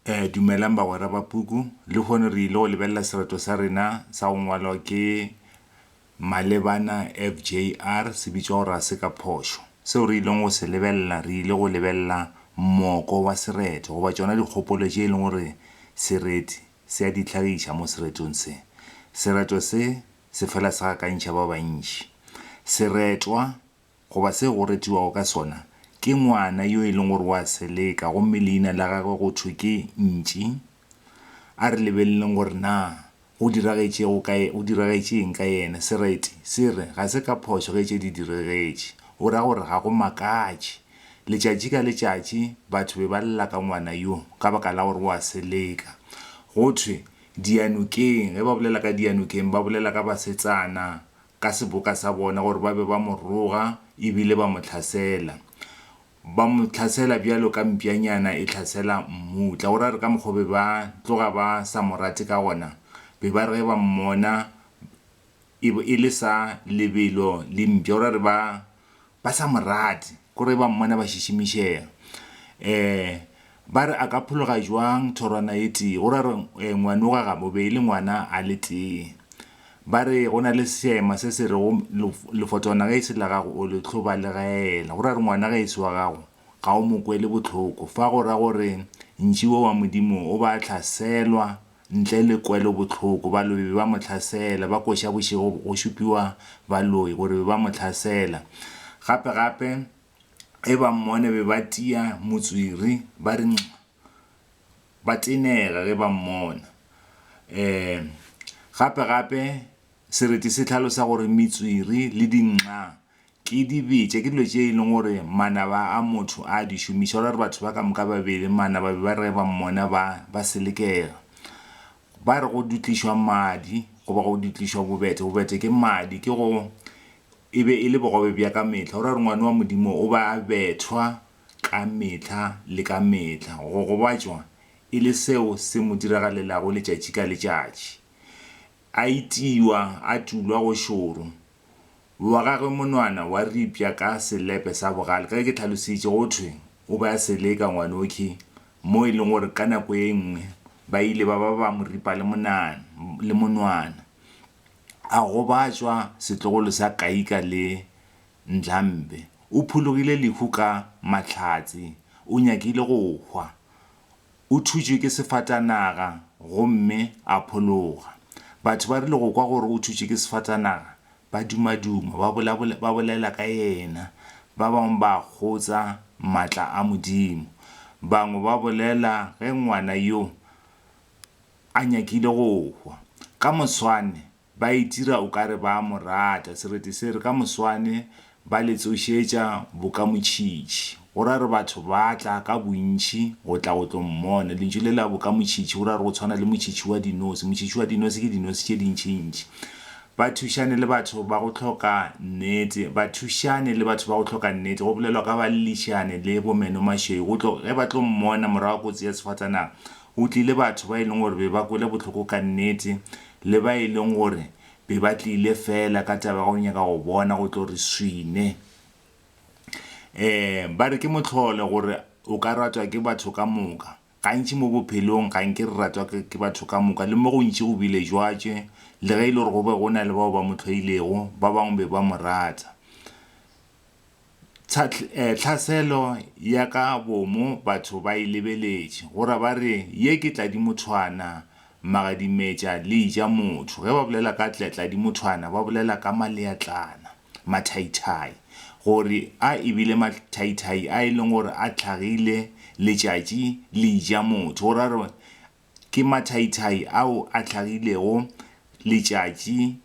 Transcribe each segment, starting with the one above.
Ee, dumelang bagwera ba puku. Lehono re ile go lebelela sereto sa rena sa go ngwalwa ke Malebana FJR se bitšwa gore ga se ka phošo. Seo re ileng go se lebelela, re ile go lebelela moko wa sereto goba tšona dikgopolo tše e leng gore sereti se a di hlagiša mo seretong se. Sereto se se fela se gakantšha ba bantši. Seretwa Goba se go retiwago ka sona, ke ngwana yo e leng gore o a seleka gomme leina la gagwe go thwe ke Ntši. A re lebeleleng gore na go diragetšego ka, go diragetše eng ka yena. Sereti se re ga se ka phošo ge tše di diregetše. O ra gore ga go makatše. Letšatši ka letšatši batho be ba lla ka ngwana yo ka baka la gore o a seleka. Go thwe, diyanokeng, ge ba bolela ka diyanokeng ba bolela ka basetsana ka seboka sa bona gore ba be ba mo roga e bile ba mo tlhasela. Ba mo tlhasela bjalo ka mpšanyana e tlhasela mmutla. Go ra gore ka mokgwa be ba tloga ba sa mo rate ka gona, be ba re ge ba mmona e bo e le sa lebelo le mpša. Go ra gore ba ba sa mo rate, ko re ba mmona ba šišimišega. E, ba re a ka phologa jwang thorwana e tee, go ra re e, ngwanoga ga bobe e le ngwana a le tee. Ba re go na le seema se se rego lefotwana ge e se la gago o le tlhobalegaela, go ra re ngwana ge e se wa gago ga o mo kwele bohloko, fa go ra gore ntši wo wa Modimo o ba hlaselwa Ntle le kwelobohloko, balobi be ba mo hlasela. Ba koša bošego go šupiwa baloi gore be ba mo hlasela. Gape-gape, ge ba mmone be ba tia motswiri, ba re nxa. Ba tenega ge ba mmona. Ee, gape-gape, sereti se hlalosa gore metswiri le dinxa Ke di bitša, ke dilo tše e leng gore manaba a motho a di šomiša. Go ra gore batho ba ka moka babedi manaba be ba reba mmona ba ba selekega. Ba re go dutlišwa madi goba go dutlišwa bobethe, bobethe ke madi ke go e be e le bogobe bja ka mehla. Go ra gore ngwana wa Modimo o ba a bethwa ka mehla le ka mehla. Go gobatšwa e le seo se mo diragalelago letšatši ka letšatši. A itiwa, a tulwa go šoro, wa gagwe monwana wa ripša ka selepe sa bogale, ka ge ke tlhalositše go thwe o be a se le ka ngwanokhi, mo e lego gore ka nako ye nngwe ba ile ba ba ba mo ripa le monana, le monwana. A gobatšwa setlogolo sa Kaika le Ndlambe. O phologile lehu ka mahlatse, o nyakile go hwa. o thutšwe ke sefatanaga gomme a phologa. Batho ba rile go kwa gore o thutšwe ke sefatanaga, ba dumaduma, ba bolabola, ba bolela ka yena. Ba bangwe ba kgotsa matla a Modimo. Bangwe ba bolela ge ngwana yo a nyakile go hwa. Ka moswane, Ba itira o ka re ba a mo rata. Sereti se re, Ka moswane ba le tsošetša bokamotšhitšhi, go ra re batho ba tla ka bontšhi go tla go tlo mmona. Lentšu le la bokamotšhitšhi go ra re go tshwana le motšhitšhi wa dinosi. Motšhitšhi wa dinosi ke dinosi tše dintšintši. Bathušane le batho ba go hloka nnete. Bathušane le batho ba go hloka nnete go bolelwa ka ba Llišane le bo Menomašweu. Go tlo, ge ba tlo mmona morago ga kotsi ya sefatanaga, go tlile batho ba e leng gore be ba kwele bohloko ka nnete le ba e leng gore be ba tlile fela ka taba ya go nyaka go bona go tlo re swine. Um ba re ke mohlolo gore o ka ratwa ke batho ka moka. Gantši mo bophelong ga nke re ratwa ke batho ka moka, le mo gontši go bile jwatše, le ge e le gore go be go na le bao ba mo hloilego, ba bangwe be ba mo rata. Tlhaselo ya ka bomo batho ba e lebeletše, go ra ba re, Ye ke tladimothwana, magadimetša le eja motho. Ge ba bolela ka tladimothwana ba bolela ka maleatlana, mathaithai, gore a e bile mathaithai a e leng gore a tlhagile letšatši le eja motho, go ra re ke mathaithai ao a tlhagilego letšatši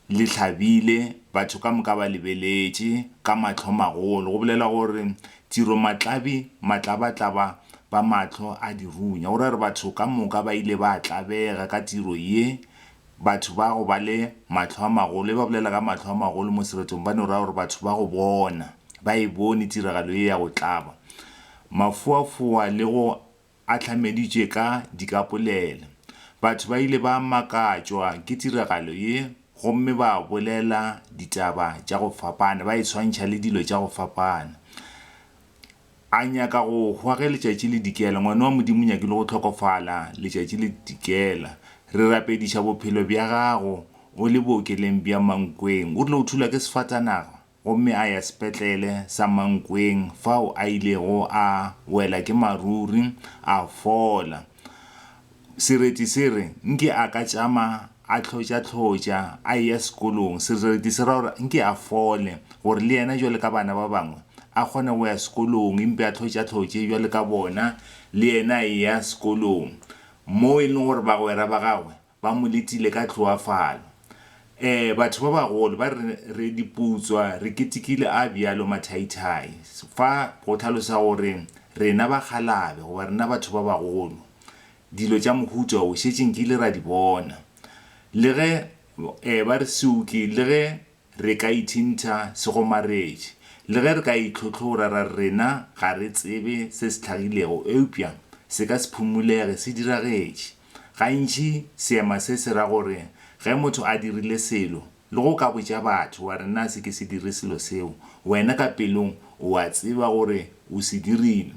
le hlabile, batho ka moka ba lebeletše ka mahlomagolo, go bolela gore tširomatlabi matlabatlaba ba mahlo a dirunya. O ra gore batho ka moka ba ile ba tlabega ka tiro ye, batho ba go ba le mahlo a magolo. Ge ba bolela ka mahlo a magolo mo seretong, ba no ra gore batho ba go bona, ba e bone tiragalo ye ya go tlaba mafoafoa le go a hlameditšwe ka dikapolele. Batho ba ile ba makatšwa ke tiragalo ye gomme ba bolela ditaba tša go fapana, ba e swantšha le dilo tša go fapana. A nyaka go hwa ge letšatši le dikela. Ngwana wa Modimo o nyakile go hlokofala letšatši le dikela. Re rapediša bophelo bja gago o le bookeleng bja Mankweng. O rile o thulwa ke sefatanaga. gomme a ya sepetlele sa Mankweng fao a ilego a wela ke maruri a fola. Sereti se re nke a ka tšama a hlotša-hlotša a eya sekolong. Sereti se ra gore nke a fole gore le yena bjalo ka bana ba bangwe a kgone go ya sekolong e mpe a hlotša-hlotše bjalo ka bona le yena a eya sekolong moo e leng gore bagwera ba gagwe Ba mo letile ka tloafalo. Ee, batho ba bagolo ba re re dipoutswa, re ketekile a bjalo mathaithai. Fa go hlalosa gore rena bakgalabe goba rena batho ba bagolo, dilo tša mohuta wo šetše nkile ra di bona. Le ge ee ba re siuki, le ge Re ka ithintha segomaretše. Le ge re ka itlhotlhora ra re rena ga re tsebe se se hlagilego, eupša se ka se phumulege se diragetše. Gantši seema se se ra gore ge motho a dirile selo, le go ka botša batho wa re na se ke se dire selo seo, wena ka pelong o a tseba gore o se dirile.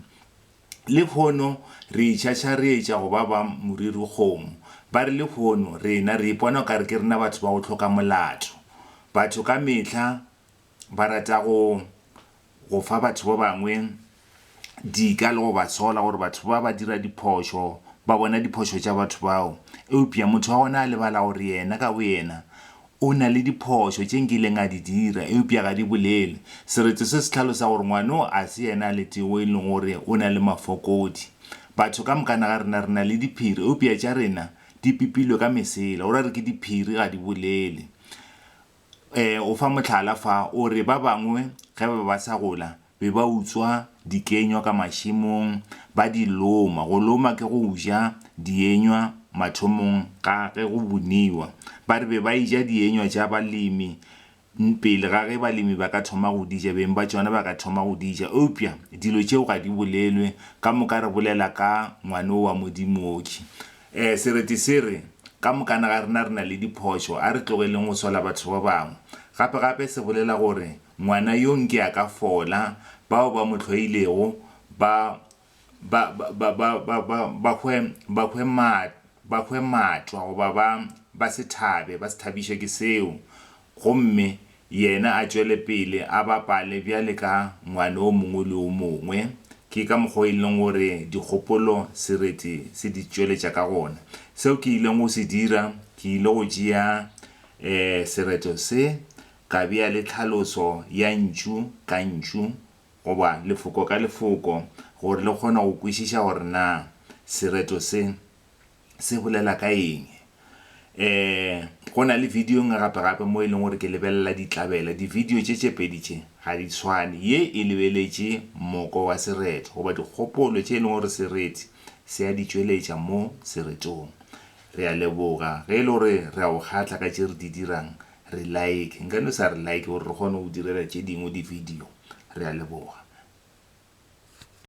Lehono re itšhatšharetša go ba ba moriri kgomo. Ba re lehono rena re ipona o ka re ke rena batho ba go hloka molato. Batho ka mehla ba rata go go fa batho ba bangwe dika le go ba sola gore batho ba ba dira diphošo, ba bona diphošo tša batho bao. Eupša motho wa gona a lebala gore yena ka boyena O na le diphošo tše nkileng a di dira, eupša ga di bolele. Sereto se se hlalosa gore ngwano a se yena a le tee wo e lego gore o na le mafokodi. Batho ka mokana ga rena re na le diphiri, eupša tša rena di pipilwe ka mesela. O ra re ke diphiri, ga di bolele. E, o fa mohlala fa, o re ba bangwe ge ba be ba sa gola, be ba utswa dikenywa ka mašemong, ba di loma. Go loma ke go uja dienywa mathomong ga ge go buniwa. Ba re be ba eja dienywa tša balemi pele ga ge balemi ba ka thoma go di ja, beng ba tšona ba ka thoma go di ja. Eupša dilo tšeo ga di bolelwe, ka moka re bolela ka Ngwana o wa Modimooki. Ee, sereti se re, Ka mokana ga rena re na le diphošo, a re tlogeleng go sola batho ba bangwe. Gape-gape se bolela gore Ngwana yo nke a ka fola, bao ba mo hloilego ba, ba, ba, ba, ba, ba, ba hwe, ba hwe ma, ba hwe matwa goba ba, ba se thabe, ba se thabišwe ke seo, gomme yena a tšwele pele a bapale bjale ka ngwana o mongwe le o mongwe. Ke ka mokgwa o e leng gore dikgopolo sereti se di tšweletša ka gona. Seo ke ilego go se dira, ke ile go tšea, eh, sereto se, Ka bea le tlhaloso ya ntšu ka ntšu goba lefoko ka lefoko gore le kgone go kwešiša gore na sereto se se bolela ka eng. E, go na le video e nngwe gape-gape mo e leng gore ke lebelela ditlabela. Divideo tše tše pedi tše ga di tshwane. Ye e lebeletše moko wa sereto goba dikgopolo tše e leng gore sereti se a di tšweletša mo seretong. Re a leboga ge e le gore re a o kgahla ka tše re di dirang re like nka no sa re like gore re kgone go direla tše dingwe di video re a leboga